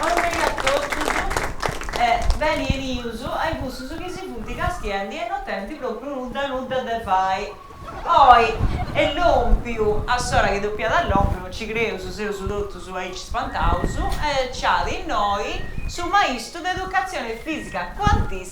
Orrei a totus e beni 'enius a-i cussus chi si funt castiendi e no tenint propriu nudda nudda de fai. Oi, est lompiu, a s'ora chi dopiat a lompiu, no ci creus, seus totus aici spantaus, e ci at innoi su maistu de educatzioni fisica, cuantista,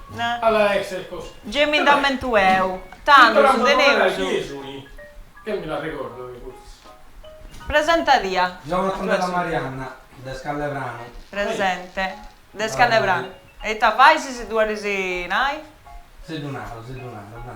Gei mi nd'ammentu eu. Tando su teneus. Presenta tia. Jonathan Della Marianna, de Scallepranu. Presente. De Scallepranu. E ita fais si ddu 'olis nai? Si ddu naro, si ddu naro, dai.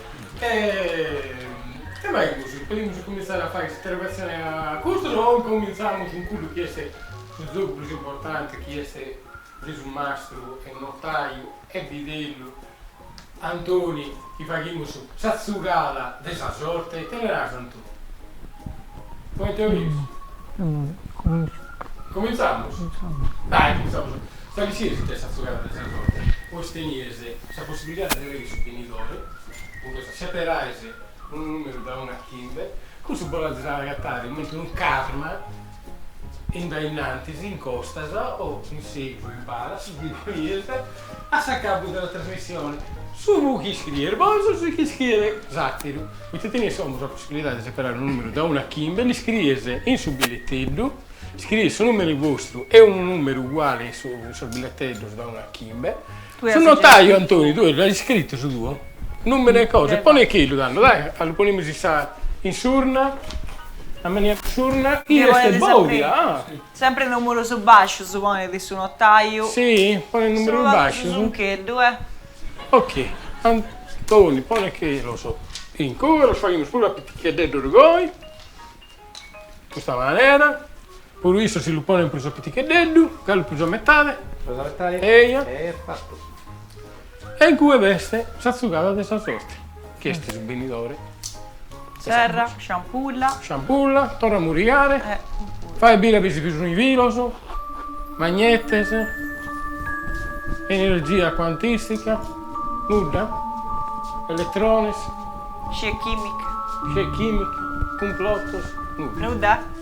E ite faimus, podimus comintzare a fai s'interrogatzioni a custos o comintzamus cun cuddu chi est su zogu prus importante chi est de su Mastru e Notaiu e Bidellu Antoni chi faghimus sa zugada de sa sorte, ite naras Antoni? Comente 'olis? Comentzamus? Dai, comentzamus a. Sa pitzina si nc'est sa zugada de sa sorte, bois tenides sa possibilidade de leghere su benidore, cun custa seperais unu numeru dae unu a chimbe, cussu bos l'azes a agatare comente unu karma in dae innantis, in costas o in segus in pala, su chi bolies, a s'acabu de sa trasmissione, su mu chi scriere bois o su chi scriere s'atteru, poita tenies como sa possibilidadi de seperare unu numeru dae unu a chimbe, li scries in su billetteddu, scriis su numeru vostru e unu numeru uguale in su in sos billetteddos dae unu a chimbe, Su notaju Antoni tue l'as iscritu su tuo numeru e cosa e ponechelu tando dai a lu ponimus in sa in s'urna ammaniamus s'urna chi est bodia ah Sempre numerus bascius ponit su notaju Si ponit numerus bascius su zuncheddu e Ok Antoni ponechelos in cue los faghimus puru a piticheddeddus goi custa manera. Puru issu si lu ponen prus a piticheddeddu, galu prus a metade. Prus a metade. Eja. E fatu. E in cue b'est sa zugada de sa sorte, chi est su benidore. Serra, sciampulla. Sciampulla, torra a murigare. E puru. Fae biri a biri si bi sun is filos, magnetes, energia cuantistica, nudda, elettrones. Scie chimiche. Scie chimiche, cumplotos, nudda. Nudda.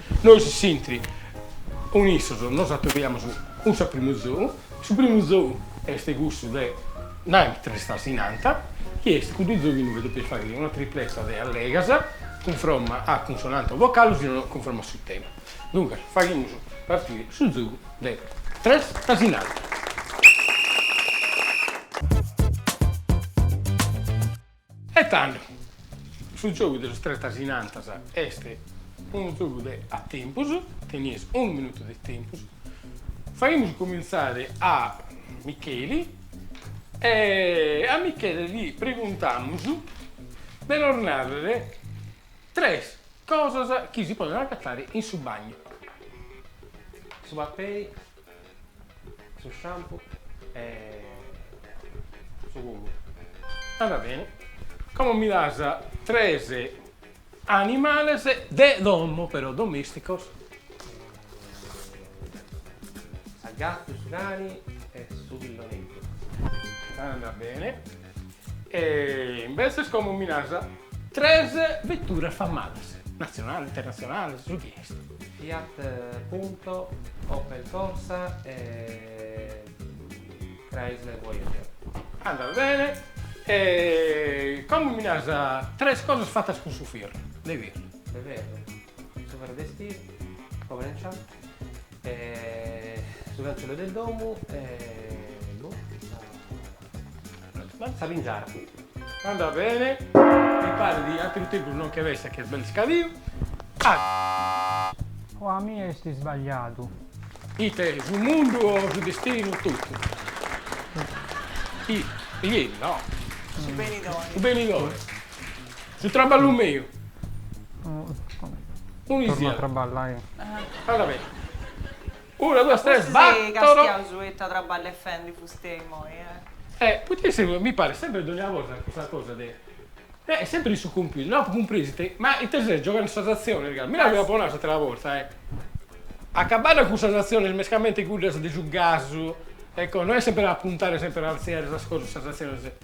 Nois s'interi cun issos nos atobiamus cun su primu zou, su primu zou est cussu de nai tres tasinanta, chi est cuddu zou chi inue depias fagher una tripleta de allegas cunfromma a cunsonante o vocale si no cunfromma a su tema. Duncas faghimus partire su zou de tres tasinanta. E tando, su giogu de sos tretas in antas est unu giogu de a tempus, tenies unu minutu de tempus, faghimus comintzare a Micheli e a Michele li preguntamus de nos narrer tres cosas chi si poden agatare in su bagnu, su papei. su shampoo e su comudu. Andat beni. Como mi das tres animales de domo, però domesticos? Sa gatu, su cani e su pilloneddu. Andat beni. E imbetzes como mi naras. Tres veturas famadas, natzionales, internatzionales, su chi est. Fiat Punto, Opel Corsa e Chrysler Voyager. Andat bene. E como mi naras tres cosas fatas cun su firru, de firru. De ferru, su ferru de istiru, cobrenciato. E su cancello de domu e boh sa sa pingiara. Andat bene, mi paret chi ateru tempus non nch'est pessa ch'est belle scadiu. O a mie est isbagliadu. Ite, su mundu o su destinu totu? Ih, ieri no. Su benidore. Su benidore. Su traballu meu. Tornu a traballai. Anda beni. Una duas tres battoro. Forsis castiaus ita traballu est fendi fustei immoi, eh. Eh, poita isse mi parit sempri dogna borta custa cosa de, eh, sempri in su computer, no apu cumpriu si ite, ma ite ses gioghendi sas atzionis ca, ti dd'apu nau s'atera borta, eh, acabadda cun sas atzionis mescamente cuddas de su gasu e cosa, no est sempri a puntare sempri a artziare sas cosas, sas atzionis.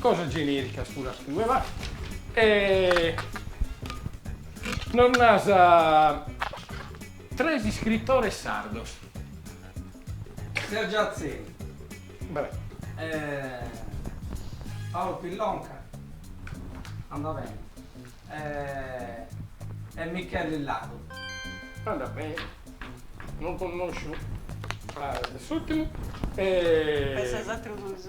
Cosas genericas puras tue va. E nos nas tres iscritores sardos. Sergio Atzeni. Bravo. Paolo Pillonca. Andat bene. E Micheli Ladu. Andat bene. Non connosciu a s'ultimu. E. E sos atrus duus?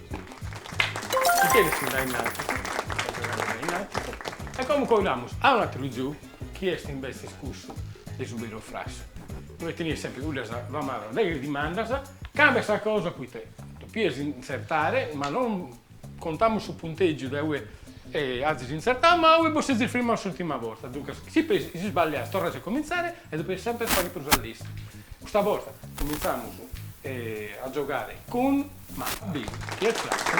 E como colamus a un atteru giogu, chi est imbetzes cussu de su beru frassu, inue tenias sempre cuddas famadas deghe dimandas, cambia sa cosa poite topias intzertare, ma non contamus su punteggiu de ue azis intzertau, ma ue bos sezis firmau s'ultima borta, duncas si sballias torras a incomintzare e topias sempre a fagher prus a lestru. Custa borta cominzamus a giogare cun. Ma bim, chi est frattu?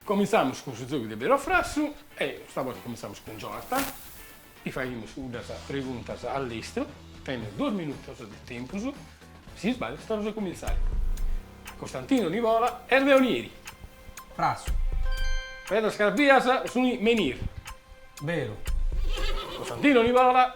Cominzamus cun su giogu de beru o frassu e custa borta cominzamus cun Jonathan, ti faghimus unas preguntas a lestru, tenes duos minutos de tempus, si sballias torras a comintzare. Costantino Nivola est de Onieri. Frassu. Pedras carpias suni menir. Beru. Costantino Nivola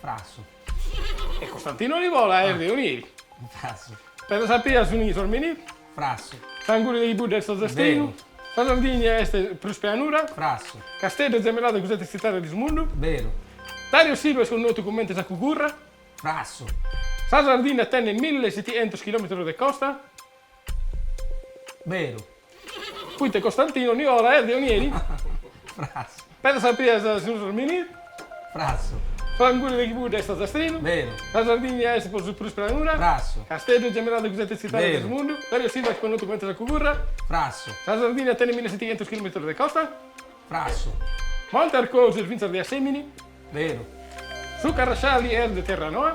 Frassu. E Costantino Nivola est de Onieri. Frassu. Pedras carpias suni sos menir. Frassu. S'anguli de chibudda est ozastrinu. Veru. Sa Sardigna est prus pianura. Frassu. Casteddu est zemelladu cun sete tzitades de su mundu. Veru. Dario Silva est connotu comente sa Cugurra. Frassu. Sa Sardinna tenet mille e setichentos chilometros de costa. Beru. Fuit Costantinu Nivola est de Onieri. Frasu. Pedras carpias suni sos menir. Frasu. S'anguli de chibudda est ozastrinu. Beru. Sa Sardigna est po su prus pranura. Frasu. Casteddu est gemelladu cun sete tzitades de su mundu. Beru. Dario Silva est connotu comente sa Cugurra. Frasu. Sa Sardigna tenit mille e setighentzus chilometrus de costa. Frasu. Monte Arcosu est fintzas de Assemini. Beru. Su Carrasciali est de Terranoa.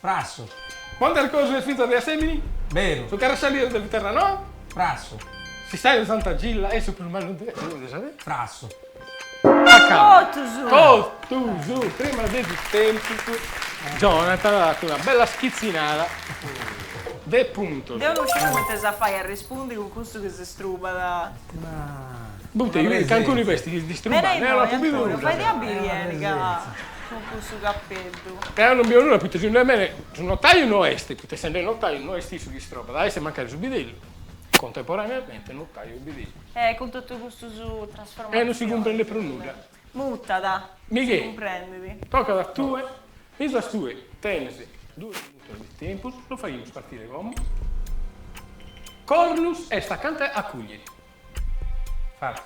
Frassu. Monte Arcosu est finzas de Assemini? Beru. Su Carrasciali est de Terranoa? Frassu. S'istàniu de Santa Gilla est su prus mannu de sa terra? Frassu. Totus. Totus. Prima de su tempus Jonathan at fatu una bella schitzinada de puntos. Deu non sciu comente si fait a arrespundi cun cussu chi si strubat. Poite, cancunu b'est chi distrubbat? Deo no apo bidu nudda. Faidi a biri beni ca cun cussu capeddu. Deo non bio nudda poita segundu mene su notaiu no est poita essende notaiu no est issu chi istrobbat, at a essi mancari su bidellu contemporaneamente notaiu e bidellu. E cun totu custus trasformatzionis. E non si cumprendet prus nudda. Mutat, si cumprendit. Michele, tocat a tue. Finzas tue tenes duos minutos de tempus, lu faghimus partire como? Cornus est acanta a Cùglieri. Farsu.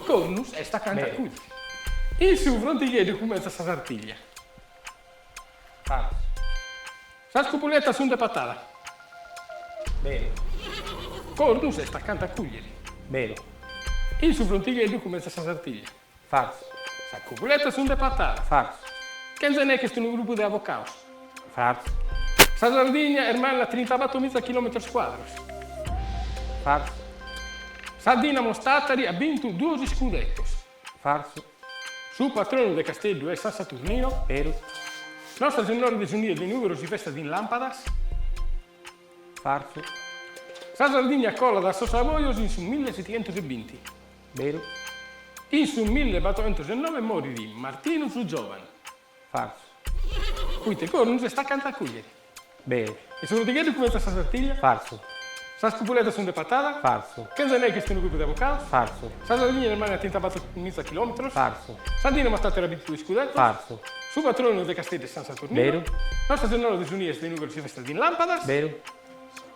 Cornus est acanta a Cùglieri. Beru. In su Frontigheddu cumentzat sa Sartiglia. Sas cupuletas sun de Patada. Beru. Cornus est acanta a Cùglieri. Beru. In su Frontigheddu cumentzat sa Sartiglia. Farsu. Sas cupuletas sun de Patada. Farsu. Kenze Neke est unu grupu de avocados. Farsu. Sa Sardigna est manna trintabatto miza chilometros cuadros. Farsu. Sa Dinamo Tàtari at bintu duos iscudetos. Farsu. Su patronu de Casteddu est San Saturnino. Beru. Nostra Sennora de su Nie de Nùgoro si festat in làmpadas. Farsu. Sa Sardigna colat a sos Savojos in su mille setichentos e binti. Beru. In su mille batorchentos e noe morit Martinu su Giovanu. Farsu. Poita Cornus est acanta a Cùglieri. Beru. E su Frontigheddu cumentzat sa sartiglia. Farsu. Sas copuletas sunt de Patada. Farsu. Kenze Neke est unu grupu de avocados. Farsu. Sa Sardigna est manna trintabator miza chilometros. Farsu. Sa Dìnamo Tàtari at bintu duos scudetos. Farsu. Su patronu de Casteddu est San Saturninu. Beru. Nostra Sennora de su Nie de Nùgoro si festat in lampadas. Beru.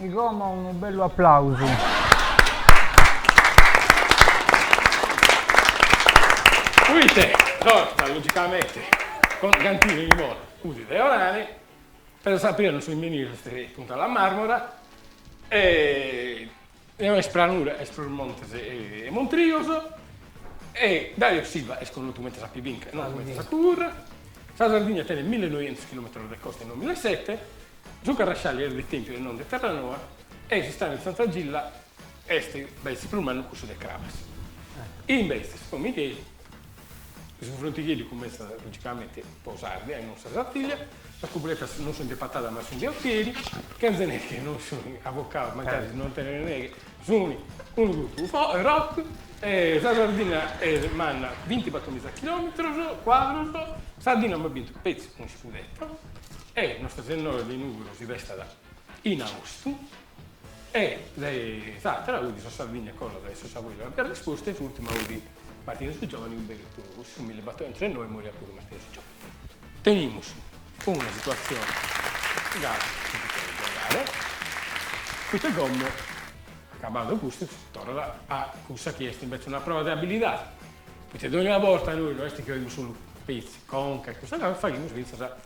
E como unu bellu applausu. Fuite torta logicamente con Gantine Nivola 'udit de Orane, Perdas Crapias su nùmene de Punta la Marmora e no est pranura, est prus montes e montrios e Dario Silva est connotu comente sa Pibinca e non comente sa Cugurra. Sa Sardigna tenet millenoientus chilometros de costa e non duamiza e sete. Su Carrascialli est de Tèmpiu e non de Terranoa e s'istàniu 'e Santa Gilla est, est su prus mannu cussu de Crabas. Imbetzes po Migheli, su frontigheddu cumentzat logicamente po s'Àrdia e non sa Sartìllia, sas copuletas non sunt de Patada ma sunt de Otieri, Kenze Neke non sunt avocaos, mancari non tenent neghe, sunt unu grupu rock e sa Sardinna est manna binti-battòmiza chilòmetros cuadros, sa Dìnamo at bintu petzi che unu scudetto. E Nostra Sennora de Nùgoro si festat in austu e s'àtera 'udit sa Sardigna colada a sos Saboia l'ant dada isposta e in s'ùrtima 'udit Martinu su Giovanu in beru togus su millebattoientos e noe moriat puru Martinu su Giovanu. Tenimus una situatzione gasi si si cheret giogare poita como acabadu custu si torrat a cussa chi est invece una prova de abilidade poita dònnia borta nois no est chi 'olimus solu petzi conca e custa cosa faghimus fintzas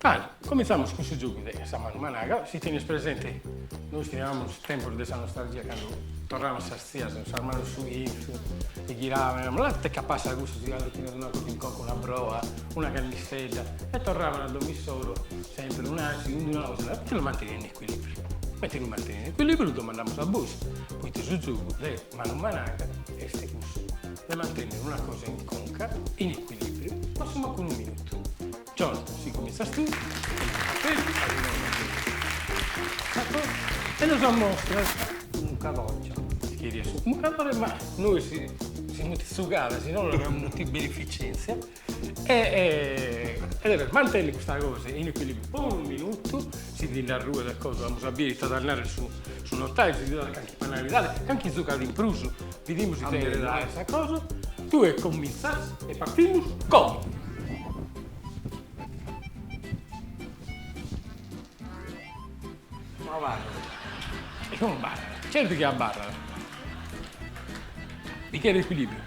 Bene, cominzamus cun su giogu de sa manu managa, si tenis presenti nois chi naramus tempus de sa nostalgia candu torraiant sas tzias cun sas manus in chintzu e ghiraiant e naraiant, lantete ca passat cussu tziganu chi nos donat in conca una broa, una cannistedda e torraiant a domo issoro sempri un'acidu in d'una otra, ite lu mantenet in equilibriu? Mentri lu mantenet in equilibriu lu domandamus a bois, poita su giogu de manu managa est cussu de mantènnere una cosa in conca, in equilìbriu, ma a su mancu unu minutu. John, si cumintzas tue, e nos ammostras unu cabòrgiu, si cherias su mucadore, ma nois si mutit su cale, si no non amus mutit beneficèntzia. e e deves mantenni custa cosa in equilibriu po unu minutu, si ti nde arruet e cosa amus a bier ita t'at a narrer su su notaio, si ti donat calchi penalidadi, calchi zucadu in prus, bidimus ite cheret aer sa cosa, tue comintzas e partimus como. No abarrat, no abarrat, certu chi abarrat, mi cheret equilibriu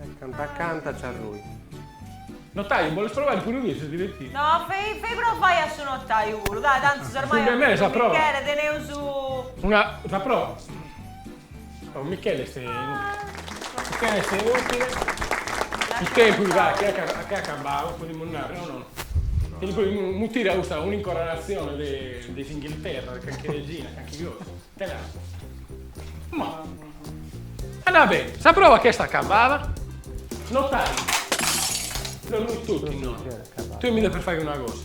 E canta canta Ciarrui. Notaiu boles provai puru tui, si divertit. No, fei fei provai a su notaiu puru, dai, tantis ormai a Michele, a Michele teneus. Una, sa proa. Oh Michele est Michele est inutile. Michele puru ca che at acabau podimus nai, o no? Podimus mutiri a custa un'incoronatzione de de s'Inghilterra, de calchi regina, calchi cosa. Ma. Andà beni, sa prova ch'est acabada. Notaiu. No noi totu innoi. Tui mi depes faghi una cosa.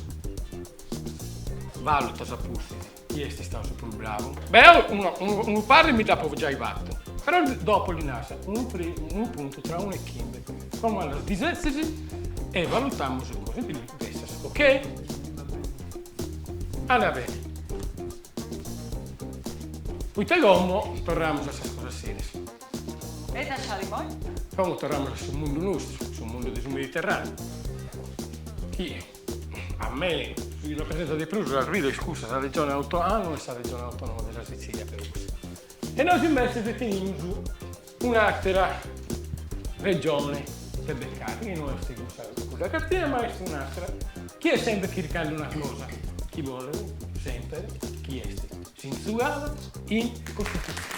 Valutas a pustis chie est istau su prus bravu. Deu unu parri mi dd'apu giai fatu. Però dopu li nas unu unu puntu tra unu e chimbe, como los disetzis e valutamus così. Ok. Andà beni. Poita como torramus a sas cosas serias. E sa ciali poi? Como torramus a su mundu nostru, su mundu de su Mediterraneu, chi a mie mi rapresentat de prus sas bides cussas, sa regione autonoma e sa regione autonoma de sa Sizilia però. E nois invece tenimus Un'àtera regione de becare, chi no est cussa de cartina, ma est un'àtera, chi est semper chircande una cosa, chi bolet semper chi est s'intzugada in Costitutzione.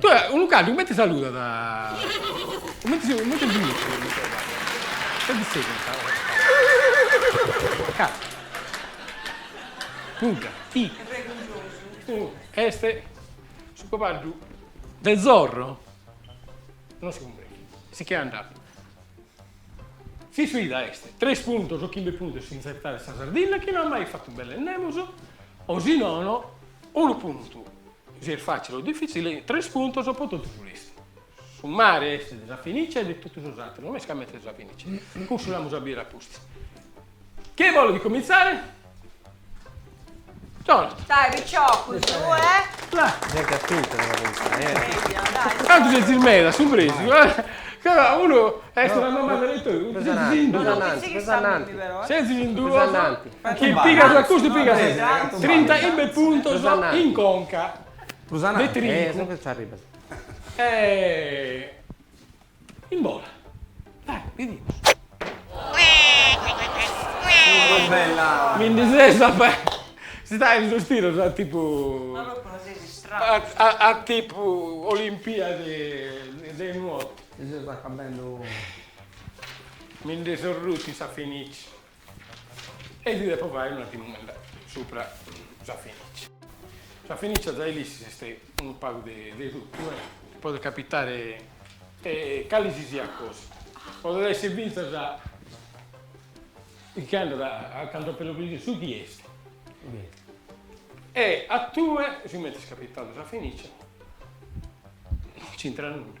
Tue, unu caddu cumenti saludat? Cumenti cumenti Punta. I. Est su cabaddhu de Zorro? Non si cumprendi. Si che andat. S'isfida est, tres puntos o chimbe puntos si inzertat sa Sardinna chi no at mai fatu belle nemus o si nono unu puntu Si est fàtzile o difìtzile, tres puntos po totu su restu. Su mare est de sa finìcia de totu sos àteros, non est ca mentras sa finìcia, cussu l'amus a biri a pustis. Chie bolet comintzare? Jonathan. Dai, picciò, cun su e. Cantu sezis meda, su presu, eh! Ca unu est una domanda de letore, cun su sezis in duos. Sezis in duos. Chi pigas a custu pigas trinta e chimbe puntos in conca de trincu. E in bola. Dai, bidimus. Mi ndi ses a fai, si dai in sos tiros a tipu, a tipu olimpiadi de nuotu. Mi ndi ses rutu in sa finìcia. E ddi depo fai una domanda supra sa fenicia. Sa fenicia zai l'ischis est unu pagu de de totu e podet capitare cali si siat cosa. Podet essi fintzas chi andat a a cantu apo lepidu su chi est. E a tue, sigumenti est capitadu sa fenicia, no nci intrat nudda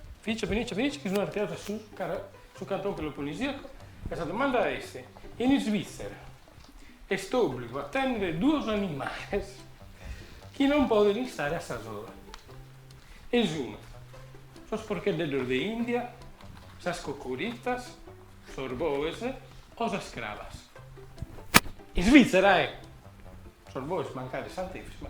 Fenice Fenice Fenice chi sunt artziados a su su cantone peloponisiaco e sa domanda est, in Isvìtzera est òbligu a tènnere duos animales chi non podent istare a sa sola? E sunt, sos porcheddeddos de India, sas cocuritas, sos boes o sas crabas? In Isvìtzera, e! Sos boes mancari Sant'Efis, ma.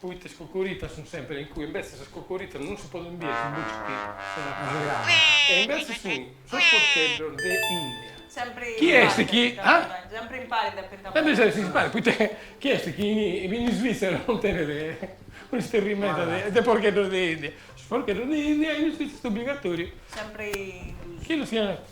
Poita is cocoritas sunt sèmpiri in cui, imbetzes sas cocoritas non si podint biri su buci chi sunt a cai e imbetzes sunt sos porcheddos de India. Sèmpiri Chi est impari chi, depint ah? abarrai, sèmpiri impari depint abarrai. Sèmpiri impari, poita chie est chi in Isvìtzera non tenet un'isterrimenta de porcheddos de India? Sos porcheddos de India in Isvìtzera est obligatòriu chi los siant.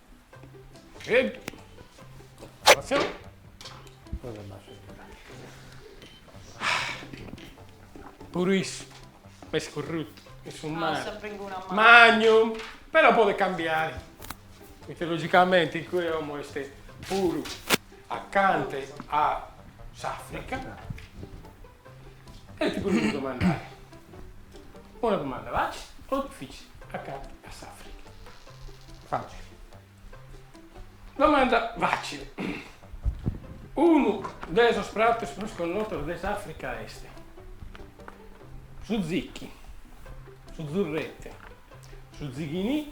Puru issu est currutu in su mare magnum, però podet cambiare, poita logicamente in cue como est puru acante a s'Africa E ti bolia domandare. Una domanda facile o dificile acante a s'Africa. Facile. Domanda facile. Unu de sos pratos prus connotos de s'Africa esti su zicchi, su zurrete, su zighinì.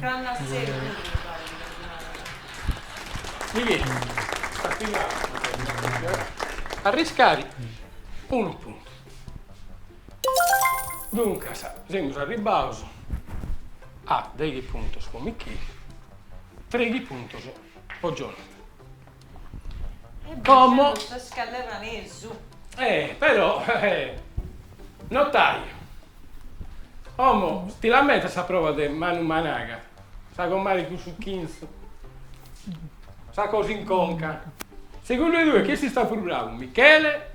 Cannas seu puru mi parit de narare. Arriscare unu puntu. Duncas semus arribados a deghi puntos po Michele, treghi puntos po Jonathan. Como. Eh però eh notaio, como ti lamentas sa proa de Manu Managa, sa comare cun su chintzu, sa cosa in conca. Segundu e tue chie est istau prus bravu, Michele?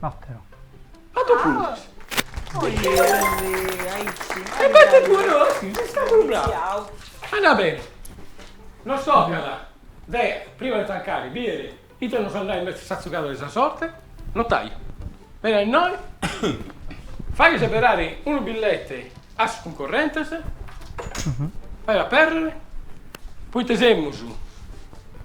Batoro. Bator puntos. E bate puru si sa puru brau. Andat beni. Nos tocat de prima de tancare bider ite nos at a dai imbetzes sa tzuca de sa sorte. Notaia. Bene a innoi. Faghe seberare unu billete a sos cuncorrentes. Faghe aperrere. Poite semus.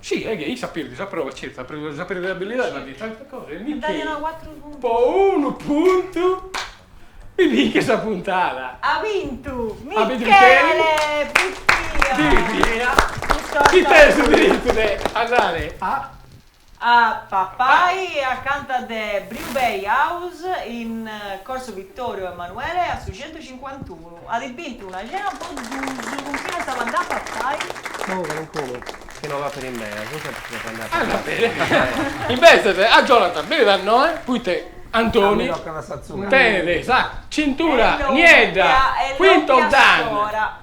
Si, e che issa perdit sa prova certu sa prova de abilidade ma diat tanta cosa e mi che po unu puntu mi binchet sa puntada. Ha vintu Michele Buttia! Buttia! Chi tenet su diritu de andare a a papai acanta de Brew Bay House in Corso Vittorio Emanuele a su centucincuantunu. At bintu una cena po duus cun chini as a andai a papai. Unu calincunu chi no l'at in bea, su sempri si depit andai a papai. Invètzes a Jonathan benit a innoi, poita Antoni tenet sa cintura niedda, quinto dan.